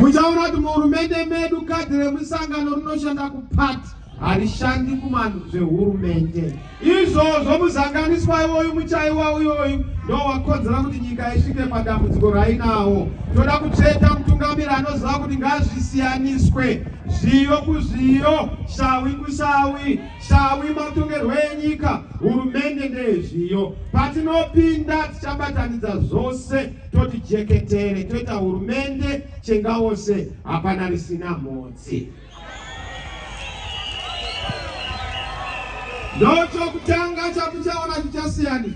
Muchaona kuti muhurumende medu kadhi remusangano rinoshanda kupati harishandi kumanhu zvehurumende izvozvo muzanganiswa iwoyu muchaiwa uyoyu ndowakonzera kuti nyika isvike padambudziko rainawo toda kutsveta mutungamiri anoziva kuti ngazvisiyaniswe zviyo kuzviyo shawi kushawi shawi matongerwo enyika hurumende ndeyezviyo patinopinda tichabatanidza zvose toti jeketere toita hurumende chengawose hapana risina mhodzi ndochokutanga chatichaona chichasiyana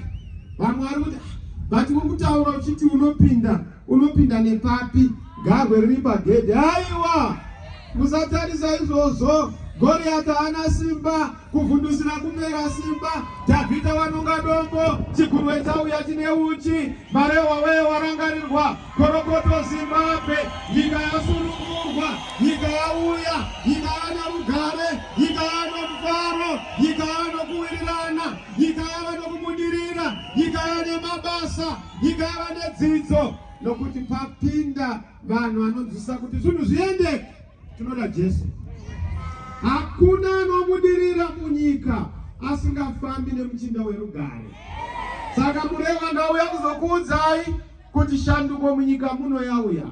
vamwe vari kuti but uri kutaura uchiti unopinda unopinda nepapi garwe riri pagedhi aiwa Musatarisa izvozvo, Goriata ana simba, kuvhundusira kumera simba, Dhavhidha wanonga dombo, chigurwe chauya chine uchi, marehwa weye warangarirwa, korokoto Zimbabwe, nyika yasunungurwa, nyika yauya, nyika yana rugare, nyika yano mufaro, nyika yano kuwirirana, nyika yava nokubudirira, nyika yane mabasa, nyika yava nedzidzo, nokuti papinda Vanhu vanonzwisa kuti zvinhu zviendeke, tinoda Jesu. Hakuna anobudirira munyika asingafambi nemuchinda werugare. Saka mureva ndauya kuzokuudzai kuti shanduko munyika muno yauya.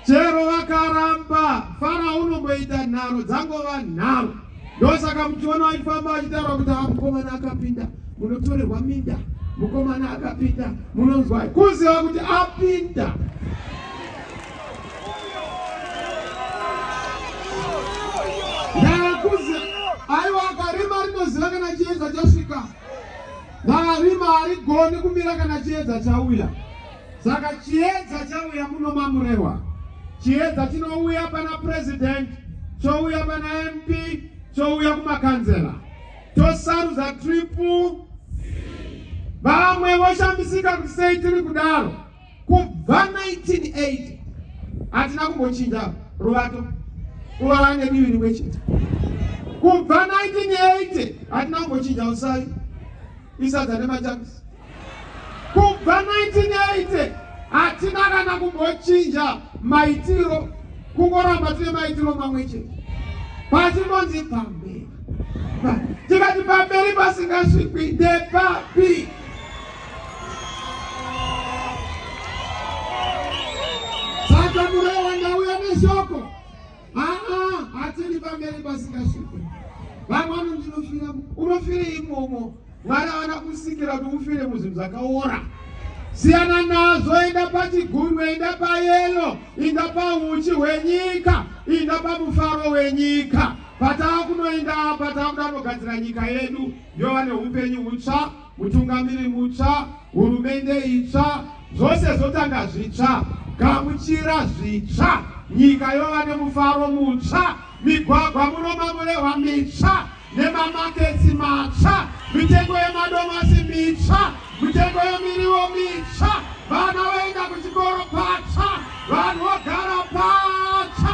Chero vakaramba, Farao unomboita nharo dzangova nharo. ndosaka muchiona achifamba achitaura kuti ha mukomana akapinda munotorerwa minda mukomana akapinda munonzwai kuziva kuti apinda aiwa akarima rinoziva kana chiedza chasvika ndarima harigoni kumira kana chiedza chauya Saka chiedza chauya muno mamurewa, chiedza chinouya pana president, chouya pana MP, chouya kumakanzela, tosarudza triple vamwe voshamisika kuti sei tiri kudaro kubva 1980 hatina kumbochinja ruvato kuva vane divi rimwe chete kubva 1980 hatina kumbochinja usai isadza nemachamisi Kubva 1980 hatina kana kumbochinja maitiro, kungoramba tine maitiro mamwe chete. Pachinonzi pamberi, tikati pamberi pasingasvikwi ndepapi? Saka mureo wangauya neshoko Aa, hatiri pamberi pasingasvike. Vamwe vanondinofira, unofire imomo. Mwari avana kusikira kuti ufire muzvinhu zvakaora. Siyana nazvo, enda pachigunwe, enda payelo, enda pahuchi hwenyika, enda pamufaro wenyika. Patava kunoenda apa, tava kuda kunogadzira nyika yedu yova neupenyu hutsva. Mutungamiri mutsva, hurumende itsva, zvose zvotanga zvitsva. Gamuchira zvitsva, nyika yova nemufaro mutsva, migwagwa muno mamurehwa mitsva nemamaketsi matsva, mitengo yemadomasi mitsva, mitengo yemiriwo mitsva, vana vaenda kuchikoro patsva, vanhu vogara patsva.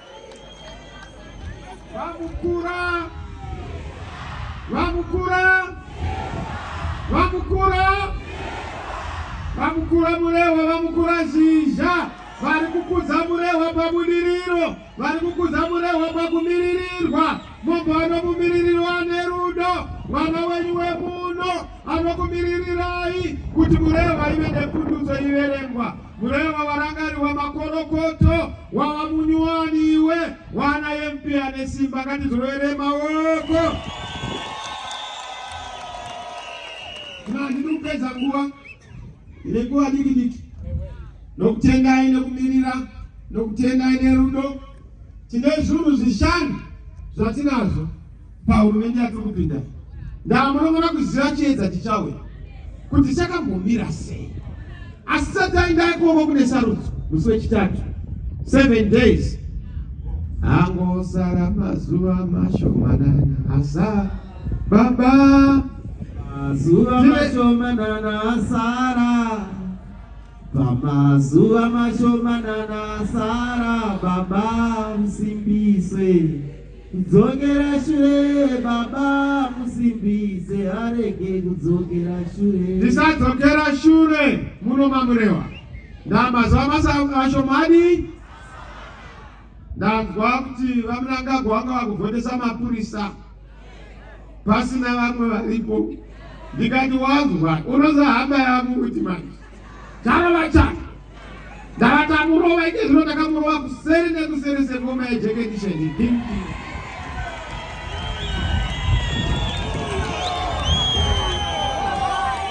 Vamukura! Vamukura! Vamukura! Vamukura Murehwa, Vamukura Zhizha vari kukudza Murehwa pabudiriro, vari kukudza Murehwa pakumiririrwa. Mumba anomumiririro ane rudo, mwana wenyu wemuno anokumiririrai kuti Murehwa ive nepundutso iverengwa. Kureva varangari vamakorokoto wava munyuwani iwe wana MP ane simba ngatizorere maoko. Ndiri kupedza nguva ine nguva diki diki nokutendai nekumirira nokutendai nerudo tine zvinhu zvishanu zvatinazvo pahurumende yatiri kupinda ndaa munofanira kuziva chiedza chichauya kuti chakambomira sei asi sati aenda ikoko kune sarudzo musi wechitatu seven days angosara mazuva mashomanana asa baba mazuva mashomanana asara pamazuva mashomanana asara baba musimbiswe Kudzokera shure baba musimbise arege kudzokera shure. Ndisadzokera shure munoma murewa. Ndamazuva masa ashomani. Ndanzwa kuti vamunangagwa vanga vakuvhotesa mapurisa pasina vamwe varipo. Ndikati wanzwa unozohamba yamu kuti manje. Kana vachana ndakatamurova ite zvino ndakamurova kuseri nekuseri sengoma yejekendisheni dimdi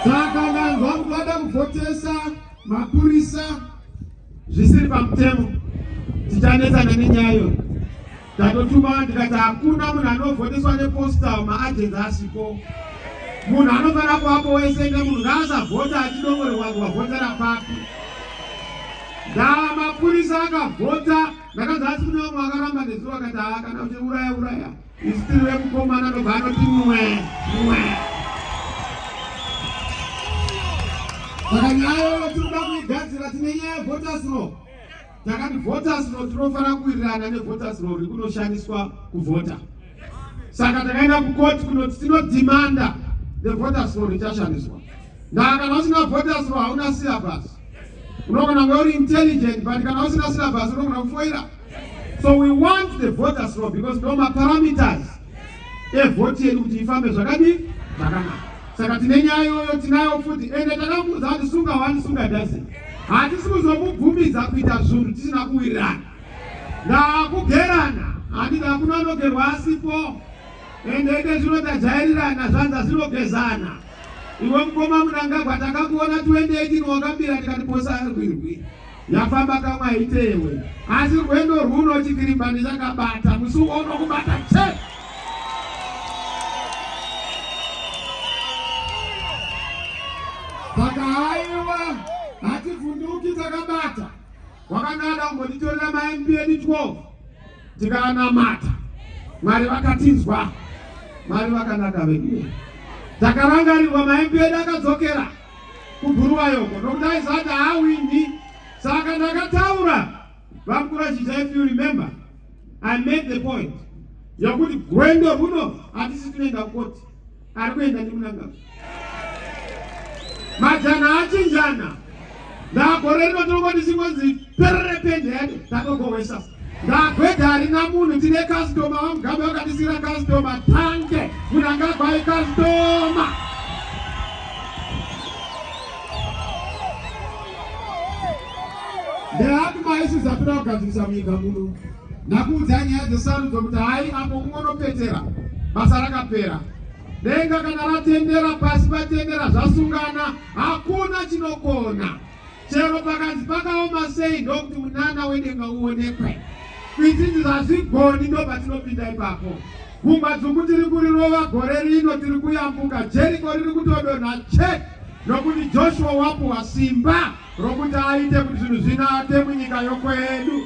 saka vanhu vangu vada kuvhotesa mapurisa zvisiri pamutemo tichanetsana nenyayo Tatotuma tikati hakuna munhu anovhoteswa nepostal maagenzi asipo. Munhu anofanira kuvapo wese nemunhu ngaasavhota achidongorerwa kuti wavhotera papi. Ndava mapurisa akavhota ndakanzi asi kune vamwe vakaramba nezuro akati haa kana kuti uraya uraya isu tiri vekukomana ndobva anoti mwe mwe saka nyaya yoyo tinoda kuigadzira tine nyaya yevhotasiro takati voters roll tinofanira kuwirirana nevoters roll rikunoshandiswa kuvhota saka takaenda kukoti kunoti tinodhimanda nevoters roll richashandiswa ndaa kana usina voters roll hauna syllabus unogona kunge uri intelligent but kana usina syllabus unogona kufoira so we want the voters roll because ndo maparameters evhoti yedu kuti ifambe zvakadii zvakanaka saka tine nyaya iyoyo tinayo futi ende takamuudza kuti sunga wani sunga dasi hatisi kuzomubvumidza kuita zvunhu tisina kuwirirana ndakugerana handiti hakuna anogerwa asipo ende ende zvino tajairirana zvanza zvinogezana iwe mukoma munangagwa takakuona 2018 wakambira tikati posa arwirwi Yafamba kamwe haite iwe. Asi rwendo rwuno chikirimba ndichakabata musi uno kubata chete. Saka haiwa hativhunduki takabata. Wakanga ada kumbotitorera maMP edu 12 tikanamata. Mwari vakatinzwa. Mwari vakanaka vedu. Takarangarirwa maMP edu akadzokera. kuBhuluwayo uko nokuti aiziva kuti haawini saka ndakataura vamukuru vachiti if you remember i made the point yokuti gwendo runo hatisi tinoenda kukoti ari kuenda ndikunangava majana achinjana ndagore rino tinongoti chingonzi perere pendhede tatogohwesa Ndagweta harina munhu tine customer vamugabe vakatisira customer tanke munangagwai customer ndehati maisi zatoda kugadzirisa munyika muno ndakuudza nyaya dzesarudzo kuti hai apo kungonopetera basa rakapera denga kana ratendera pasi patendera zvasungana hakuna chinokona Chero pakanzi pakaoma sei ndokuti munana wedenga uonekwe. Kwititi zvazvigoni ndo patinopinda ipapo. Gungwa dzungu tiri kurirova gore rino tiri kuyambuka Jeriko riri kutodonha chek nokuti Joshua wapuwa simba rokuti aite kuti zvinhu zvinake munyika yokwedu.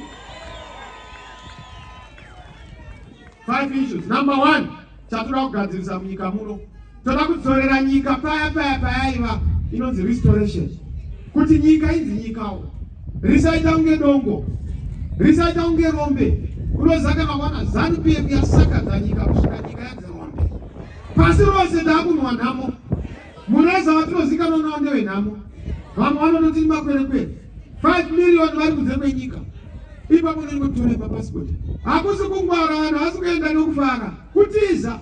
Five issues. Number one, chatoda kugadzirisa munyika muno. Toda kudzorera nyika paya paya paya iva inonzi restoration. Kuti nyika inzi nyikawo. Risaita kunge dongo. Risaita kunge rombe. Unoziva kana wana zanu PF yasakadza nyika kusvika nyika yanzi rombe. Pasi rose takunwa nhamo. Mureza watinozikanwa nawo ndewenhamo, vamwe vanototi makwerekwere 5 million vari kunze kwenyika ipapo nenge kutora mapasipoti. Hakusi kungwara, vanhu havasi kuenda nekufara, kutiza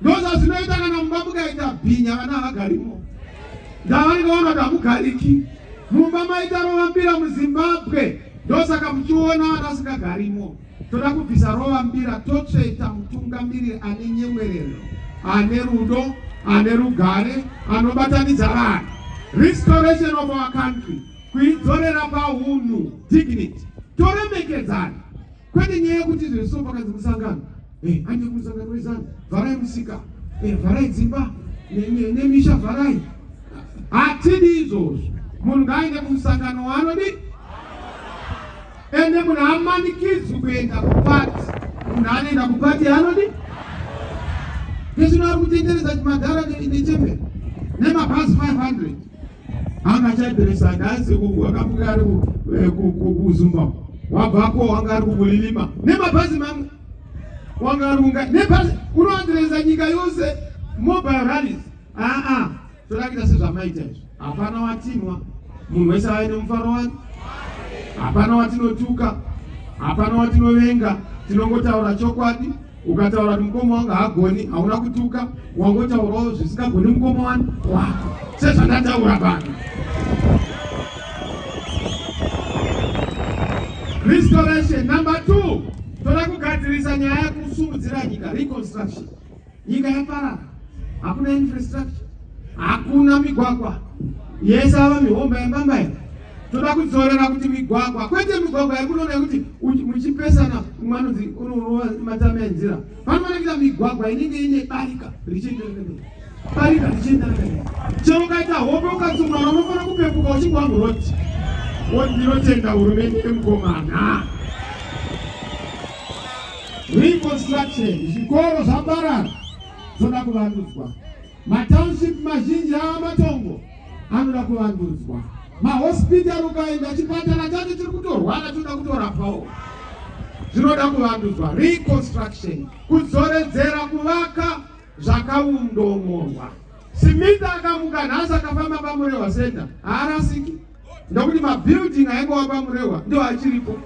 ndozvazvinoita kana mumba mukaita bhinya vana havagarimo ndavanenge vaona kuti hamugariki mumba maita rovambira muzimbabwe ndosaka muchiona vana vasingagarimo Toda kubvisa rova mbira totsveta mutungamiriri ane nyemwerero, ane rudo, ane rugare, anobatanidza vanhu. Restoration of our country, kuidzorera pahunhu, dignity. Toremekedzana kwete nyaya yekuti izvo zviso pakanzi musangano eh, anje kumusangano wezanu vharai musika eh, vharai dzimba nemisha vharai hatidi izvozvo munhu ngaaende kumusangano waanodi ende munhu amanikidzwi kuenda kupati munhu anoenda kupati anodi ndizvino ari kutendereza madhara nechemberi nemabhazi 500 anga achadirisa ndazi akamuka ari eh, kuzumba wabvako wanga ari kukulilima nemabhazi mamwe wanga ari kunga nebhazi unoadireza nyika yose mobile rallies aa ah, ah. Torakita sezvamaita izvi. Hapana watinwa. Munhu wese aine mufaro wake. Hapana watinotuka. Hapana watinovenga. Tinongotaura chokwadi. Ukataura kuti mukoma wangu hagoni, hauna kutuka, wangotaurawo zvisingagoni mukoma wani wako sezvandataura pano. Restoration number two, toda kugadzirisa nyaya yekusumudzira nyika reconstruction. Nyika yaparara, hakuna infrastructure, hakuna migwagwa yese ava mihomba yambambai. Toda kudzorera kuti migwagwa, kwete migwagwa yakunoona yekuti muchipesana umwe anonzi unorova matame enzira. Panoonekera migwagwa inenge ine barika richienderera mberi, barika richienderera mberi. Chero ukaita hope ukatsumana, unofanira kupepuka uchingwa muroti woti ndinotenda hurumende yemukomana. Reconstruction, zvikoro zvaparara zvoda kuvandudzwa. Matownship mazhinji ava matongo anoda kuvandudzwa. Mahospital ukaenda chipatara chacho chiri kutorwara choda kutorapwawo. Zvinoda kuvandudzwa, reconstruction, kudzoredzera kuvaka zvakaundomorwa. Smith akamuka nhasi akafamba paMurehwa Center haarasiki ndokuti mabuilding aingova paMurehwa ndo achiripo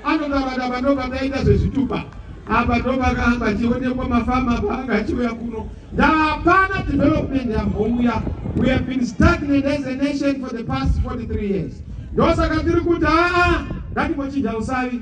anotaura daba ndo pataita zvezvitupa apa ndo pakanga achionekwa mafama paanga achiuya kuno ndapana development yambouya we have been stagnant as a nation for the past 43 years ndosaka tiri kuti aa ngatimochinja usavi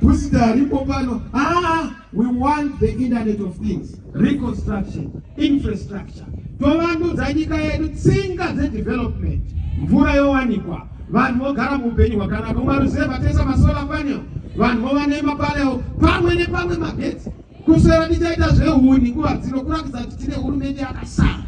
Booster ripo pano. Ah, we want the internet of things, reconstruction, infrastructure. Tovanduza nyika yedu tsinga dzedevelopment. Mvura yowanikwa. Vanhu vogara muupenyu hwakanaka. Umaruzeva tesa masolar panel. Vanhu vova nemapaleo pamwe nepamwe magetsi. Kuswera tichaita zvehuni nguva dzino kuratidza kuti tine hurumende yakasara.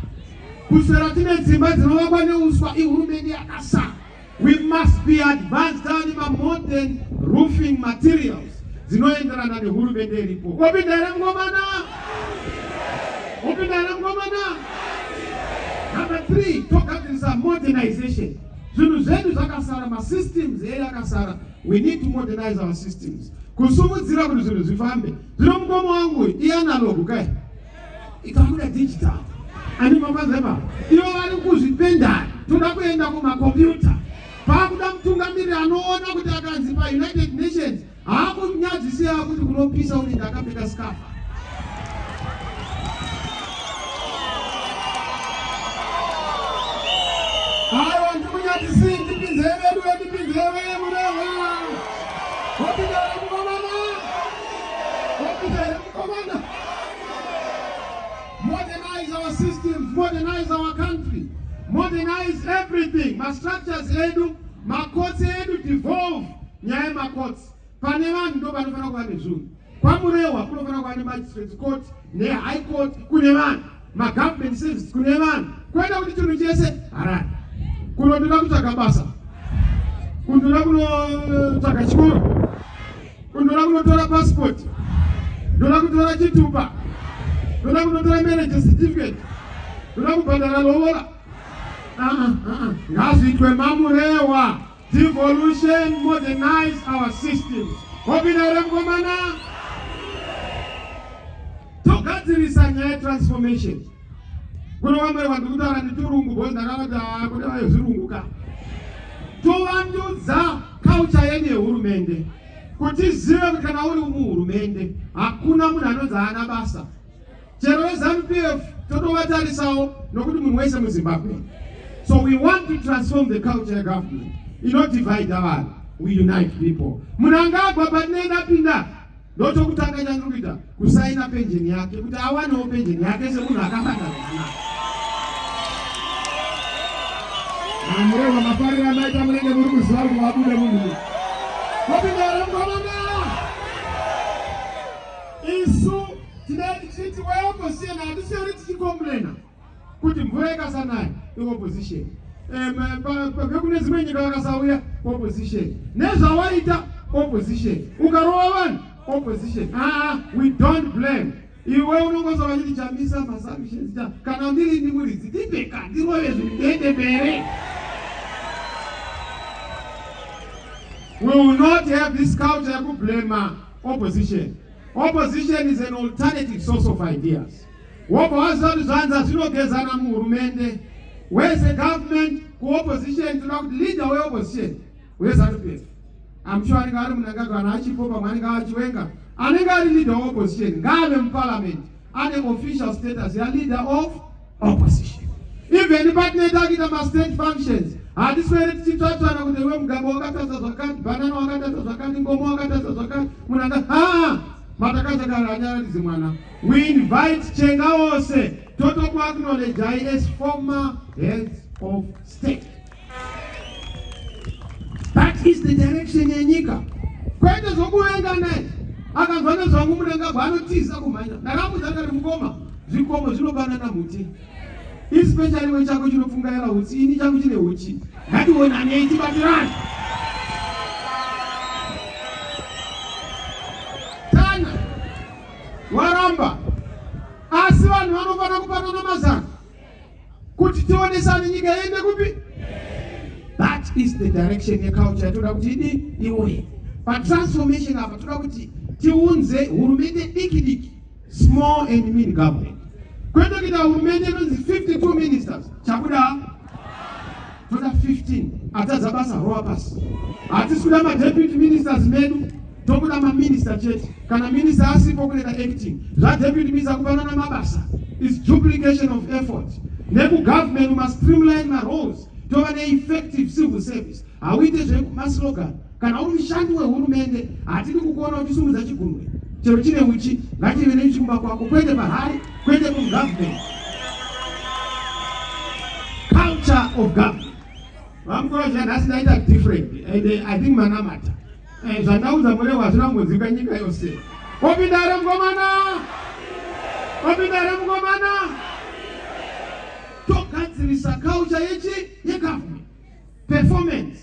Kuswera tine dzimba dzinovakwa neuswa ihurumende yakasara. We must be advanced and ma modern roofing materials dzinoenderana nehurumende iripo. Wapinda here mkomana? Wapinda here mkomana? Number 3, togadzirisa modernization. Zvinhu zvedu zvakasara, ma systems edu akasara. We need to modernize our systems. Kusimudzira kuti zvinhu zvifambe. Zvino mukoma wangu i analog kai? ikabuda digital andimakwazeva ivo vari kuzvipendari toda kuenda kumakombiyuta paakuda mutungamiriri anoona kuti akanzi paunited nations haakunyadzisira kuti kunopisa unenge akapfeka skafa aiwa ndikunyadzisii ndipinzei vedu vendipinzei vee mureha Commander, modernize our systems, modernize our country, modernize everything. Ma structures edu, ma courts edu devolve nyaya yema courts. Pane vanhu ndo panofanira kuva nezvunhu. KwaMurehwa kunofanira kuva ne magistrates court ne high court kune vanhu. ma government service kune vanhu kwete kuti chinhu chese harare kunotoda kutsvaga basa kundoda kunotsvaga chikoro kundoda kunotora passport ndoda kutora chitupa ndoda kunotora marriage certificate ndoda kubhadhara lovola ngaazviitwe mamurewa Devolution modernize our systems. Hobina remkomana. Togadzirisa nyaya transformation. Kuna wamwe vanhu kutaura nditurungu bozi ndakanoti ah kuti vayo zvirungu ka. Towandudza culture yenyu yehurumende. Kuti zive kuti kana uri muhurumende hakuna munhu anonzi haana basa. chero veZanu PF totovatarisawo nokuti munhu wese muZimbabwe so we want to transform the culture yegovernment inodivide vanhu we unite people munhu anga agwa panene apinda ndotokutanga chandiri kuita kusaina penjeni yake kuti awanewo penjeni yake semunhu akabata amureva mafariro amaita munenge muri kuziva kuti wabuda munhu wapinda ramgwamana Isu tinenge tichiti weopposition hatisiyani tichikomplena kuti mvura ikasanaya iopposition vekune dzimwe nyika vakasauya opposition nezvawaita opposition ukarova vanhu opposition aa we don't blame iwe unongosa vachiti chamisa masamishenzi ta kana ndiri ndi muridzi ndibeka ndirove zvindende mbere we will not have this culture yekublema opposition opposition is an alternative source of ideas wobva waziva kuti zvanza zvinogezana muhurumende wese government kuopposition tinoda kuti leader weopposition wezanu f am sure anenge ari munangagwa kana achipo pamwe anenge achiwenga anenge ari leader weopposition ngaave muparliament ane official status yaleader of opposition even patinoita kuita mastate functions hatiswere tichitsvatsvana kuti iwe mugabo wakatadza zvakati banana wakatadza zvakati ngomo wakatadza zvakati munhu anga ha matakaza kana anyararidzi mwana we invite chenga wose totokuacknowledge i as former heads of state That is the direction yenyika. Kwete zvokuvenga naye. Akanzwa nezvangu munangagwa anotiza kumhanya. Ndakamuudza ndikati mukoma zvikomo zvinobanana huti. Especially we chako chinopfungaira huti ini changu chine huchi. Ngatiwonanei tibatirane. Tanya waramba asi vanhu vanofanira kubatana mazano kuti tionesane nyika yende kupi that is the direction yeculture toda kuti idi iwoye patransformation apa toda kuti tiunze hurumende diki diki small and min government kwete kuita hurumende inonzi 52 ministers chakuda toda 15 atadza basa rowa pasi hatisi kuda madeputy ministers medu tokuda maminista chete kana minista asipo kuneda acting zvadeputy minista kupanana mabasa is duplication of effort nekugovernment mastreamline maroles tova neeffective civil service hauite zvekumaslogan Kana uri mushandi wehurumende, hatidi kukuona uchisumudza chigumwe chero chine uchi, ngachive neuchi kumba kwako, kwete pahari, kwete kugovernment. Culture of government. Vamukuru zviya nhasi ndaita different and eh, I think manamata eh, zvandaudza murewa hazvina kumbodzika nyika yose. Wapinda here mukomana? Wapinda here mukomana? Togadzirisa culture yechi yegovernment. performance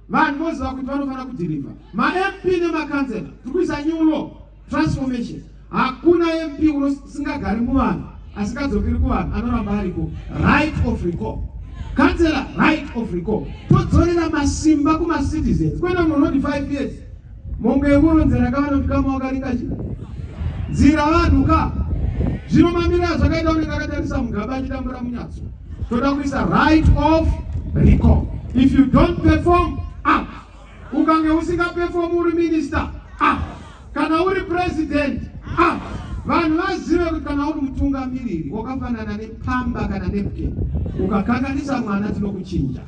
vanhu voziva kuti vanofanira kudhirivha mamp nemakanzela tiri kuisa new law transformation hakuna mp unosingagari muvanhu asingadzokeri kuvanhu anoramba ariko right of recall kanzela right of recall todzorera masimba kumacitizens kwenda munhu unoti five years Mongo yekuru nzira kavano tikama wakaringa chi. Nzira vanhu ka. Zvino mamira zvakaita unenge akatarisa mugaba achitambura munyatso. Toda kuisa right of recall. If you don't perform, ah. Ukange usinga perform uri minister, ah. Kana uri president, ah. Vanhu vazive kuti kana uri mutungamiriri wakafanana nepamba kana nepke. Ukakanganisa mwana tinokuchinja.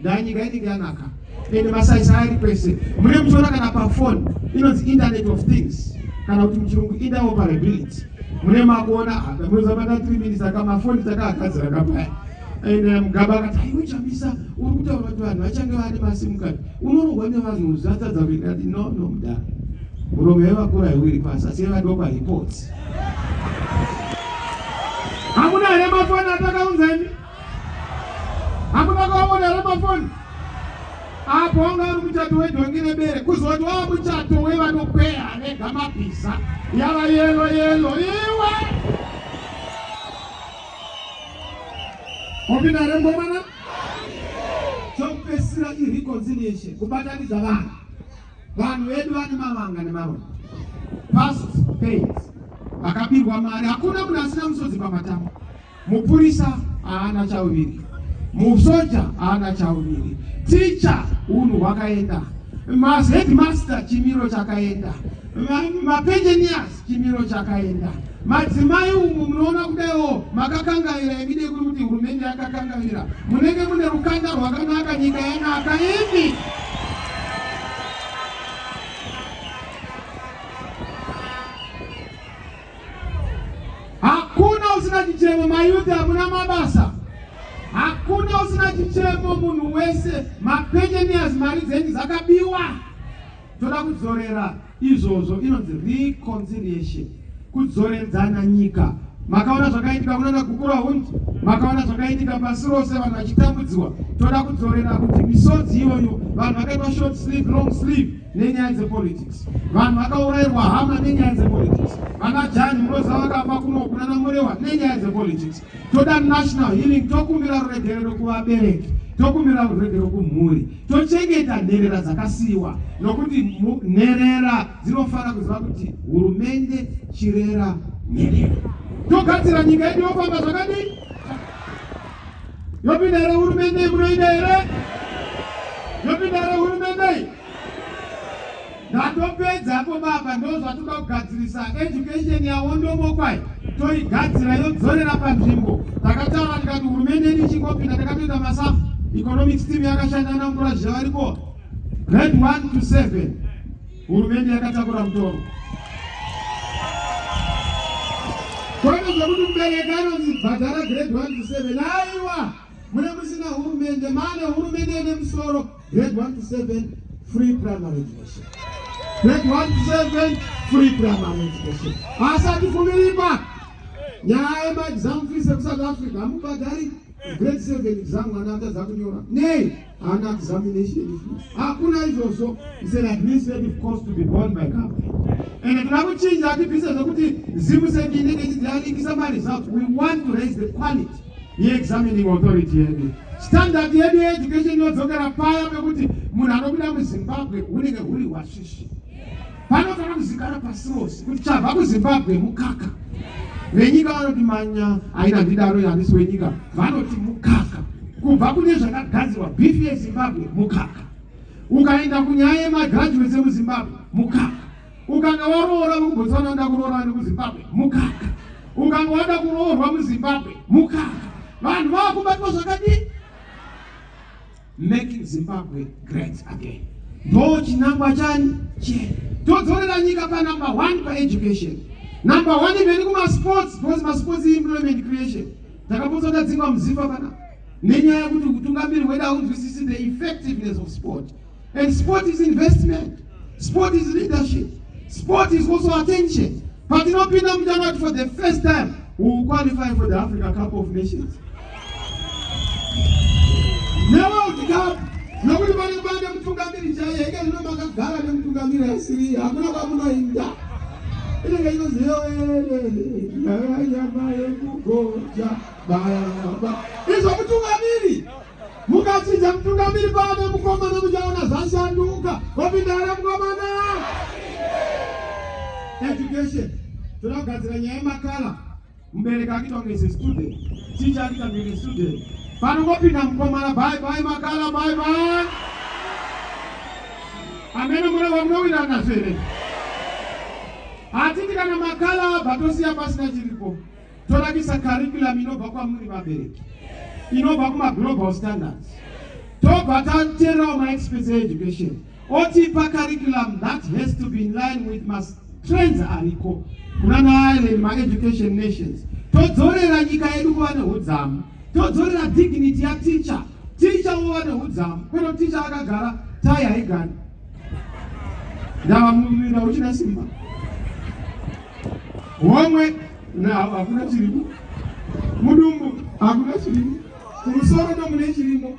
Ndaa nyika inenge yanaka ende masaisa ari pese mune muchiona kana pafoni inonzi internet of things kana kuti muchirungu interoperability mune makuona apa munozabata three minutes aka mafoni takagadzira kapaya and eh, mugaba akati aiwechamisa uri kutaura kuti vanhu vachange vane masimu kati unorohwa nevanhu zvatadza kuenda ati no no mudara muromo yevakura yewiri pasi asi yevadoko haipotsi hamuna here mafoni atakaunzani Hakuna kuvavona here pafoni? Apo wanga uri muchato wedhongi nebere kuzoti wava muchato wevanokweya anega mabhiza yava yelo yelo iwe opinda here mukomana? Chokupesira ireconciliation kubatanidza vanhu vanhu vedu vane mavanga nemarombo past pains vakabirwa mari hakuna munhu asina musodzi pamatama Mupurisa haana chauviri, musoja haana chauviri, ticha unhu hwakaenda, maheadmaster chimiro chakaenda, mapenjenias chimiro chakaenda. Madzimai umu munoona kudaiwo makakangaira imide kuri kuti hurumende yakakangaira, munenge mune rukanda rwakanaka, nyika yanaka imi Hakuna usina chichemo mayuti, hamuna mabasa. Hakuna usina chichemo munhu wese, mapensioners mari dzenyu dzakabiwa. Toda kudzorera izvozvo, inonzi reconciliation, kudzoredzana nyika. Makaona zvakaitika kunana Gukura Hundi, makaona zvakaitika pasi rose, vanhu vachitambudziwa. Toda kudzorera kuti misodzi iyoyo, vanhu vakaitwa short sleeve, long sleeve nenyaya dzepolitics vanhu vakaurairwa hama nenyaya dzepolitics vana jani munoziva vakafa kuno kunana murewa nenyaya dzepolitics toda national healing tokumbira ruregerero kuvabereki tokumbira ruregerero kumhuri tochengeta nherera dzakasiyiwa nokuti nherera dzinofanira kuziva kuti hurumende chirera nherera togadzira nyika yedu yofamba zvakadii yopinda here hurumende iyi kunoida here yopinda here hurumende iyi ndatopedza apo baba ndozvatoda kugadzirisa education yawondomokwai toigadzira yodzorera panzvimbo takataura tikati hurumende yedu ichingopinda takatoita masafu economics team yakashanda namukura zviya variko grade 1 to 7 Hurumende yakatakura mutoro kwete zvekuti mubereki anonzi bhadhara grade 1 to 7 aiwa mune musina hurumende mane hurumende ine musoro grade 1 to 7 free primary education grade 1 to 7 free primary education asati kumiripa nyaya yemaexam fees ekusouth africa hamubhadhari grade 7 exam mwana atadza kunyora nei and examination hakuna izvozvo is an administrative cost to be born by company and tinoda kuchinja atibvise zvekuti zimu seki inenge ichidzianikisa maresults we want to raise the quality yeexamining authority yedu standard yedu yeeducation inodzokera paya pekuti munhu anobuda muzimbabwe hunenge huri hwasvishi Panofanira kuzikana pasi rose kuti chabva kuZimbabwe mukaka. Venyika vanoti manya haina ndidaro yanis wenyika vanoti mukaka. Kubva kune zvakagadzirwa beef yeZimbabwe mukaka. Ukaenda kunyaya yemagraduates emuZimbabwe mukaka. Ukanga waroora kuBotswana nda kuroora nekuZimbabwe mukaka. Ukanga wada kuroorwa muZimbabwe mukaka. Vanhu vakubatwa zvakadini? making zimbabwe great again ndo chinangwa chani chee todzorera nyika panumber one paeducation number one imeni kumasports because masports employment creation takapotsa tadzingwa muziva pana nenyaya yekuti utungamiri hwedu haunzwisisi the effectiveness of sport and sport is investment sport is leadership sport is also attention patinopinda muchanati for the first time we will qualify for the africa cup of nations nokuti pane pane mutungamiri chaiye ike zvino makagara nemutungamiri asiri hakuna kwamunoinda inenge inoziyoeeenyama yekugoja bayaba izvo mutungamiri mukachinja mutungamiri pane mukomana muchaona zvashanduka wapinda here mukomana education toda kugadzira nyaya yemakala Mubereki akita kunge se student, teacher akita kunge student. Panongopinda mukomana bye bye makala bye bye. Amene mune vamunowina nasere. Hatiti kana makala abva tosiya pasina chiripo. Tonakisa curriculum inobva kwamuri vabereki. Inobva kuma global standards. Tobva tateerawo ma expense education. otipa curriculum that has to be in line with mas trends ariko kuna naireland maeducation nations todzorera nyika yedu kuva neudzamu todzorera dignity yateacher teacher wova neudzamu kweno teacher akagara tai haigani ndava muvira uchina simba homwe hakuna chirimo mudumbu hakuna chirimo kumusoro nomune chirimo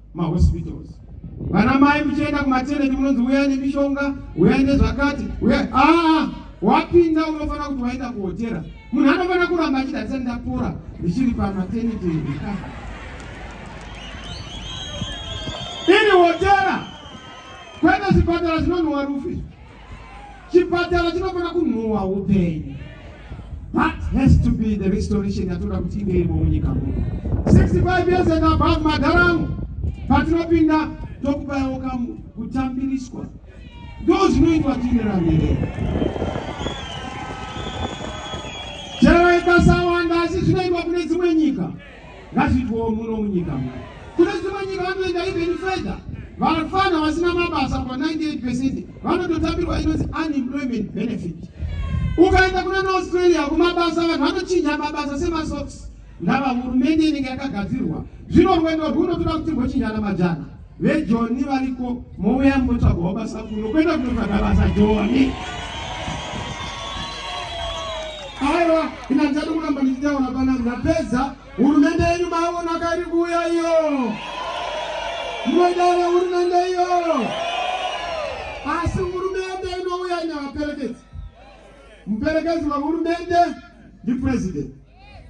mahospitals vana mai muchienda kumateneti munonzi uyai nemishonga uyai nezvakati uyai aa wapinda unofanira kuti waenda kuhotera munhu anofanira kuramba achidarisa ndapora ndichiri pamateneti ndika iri hotera kwete zvipatara zvinonhuwa rufi chipatara chinofana kunhuwa upenyu that has to be the restoration yatoda kuti inge irimo munyika muno 65 years and above madharamu patinopinda tokubayawo kamu kutambiriswa ndo zvinoitwa tiine ramberere chero ikasawanda asi zvinoitwa kune dzimwe nyika Ngazviitwewo muno munyika muno. Kune dzimwe nyika vanoenda even further. Vafana vasina mabasa kwa 98% vanototambirwa inonzi unemployment benefit. Ukaenda kuna naAustralia kumabasa vanhu vanochinja mabasa semasocks ndava hurumende inenge yakagadzirwa. Zvino rwendo rwuno toda kuti mbochinjana majana. vejoni variko mouya mbotsvagawo basa kuno kwenda kunotsvaga basa joni aiwa ina ndichadi kuramba ndichitaura pana ndapedza hurumende yenyu maona kairi kuuya iyo munodaira hurumende iyo asi hurumende inouya ine vaperekedzi muperekedzi wehurumende ndipurezidendi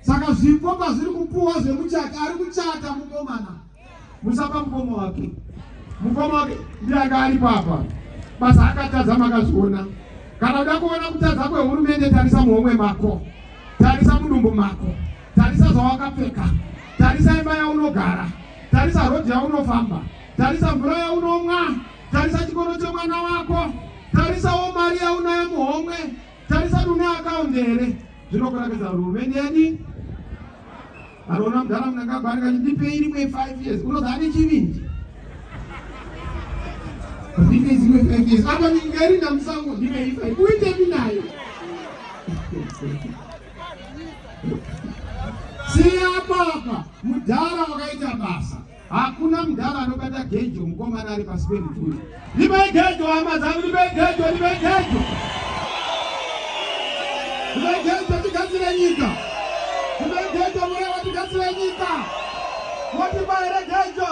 saka zvipo pazviri kupuwa zvemuchati ari kuchata mukomana musapa mukoma wake mukoma wake ndiye anga ari papa basa akatadza makazviona kana uda kuona kutadza kwehurumende tarisa muhomwe mako tarisa mudumbu mako tarisa zvawakapfeka tarisa imba yaunogara tarisa rodhi yaunofamba tarisa mvura yaunomwa tarisa chikoro chemwana wako tarisawo mari yaunayo muhomwe Tarisa une account here? Zvinokurakidza kuti hurumende yadi anoona mudhara munangagwa ari kati ndipei rimwe five years unoza ane chivindi ndipei zimwe five years apa nyika iri ndamusango ndipei five uitepi nayo siya papa mudhara wakaita basa Hakuna mdhara anobata gejo mukomana ari pasi perituri. Ndibei gejo hama dzangu, ndibei gejo, ndibei gejo. Ndibei gejo tigadzire nyika. Ndibei gejo murewa tigadzire nyika. Moti baire gejo.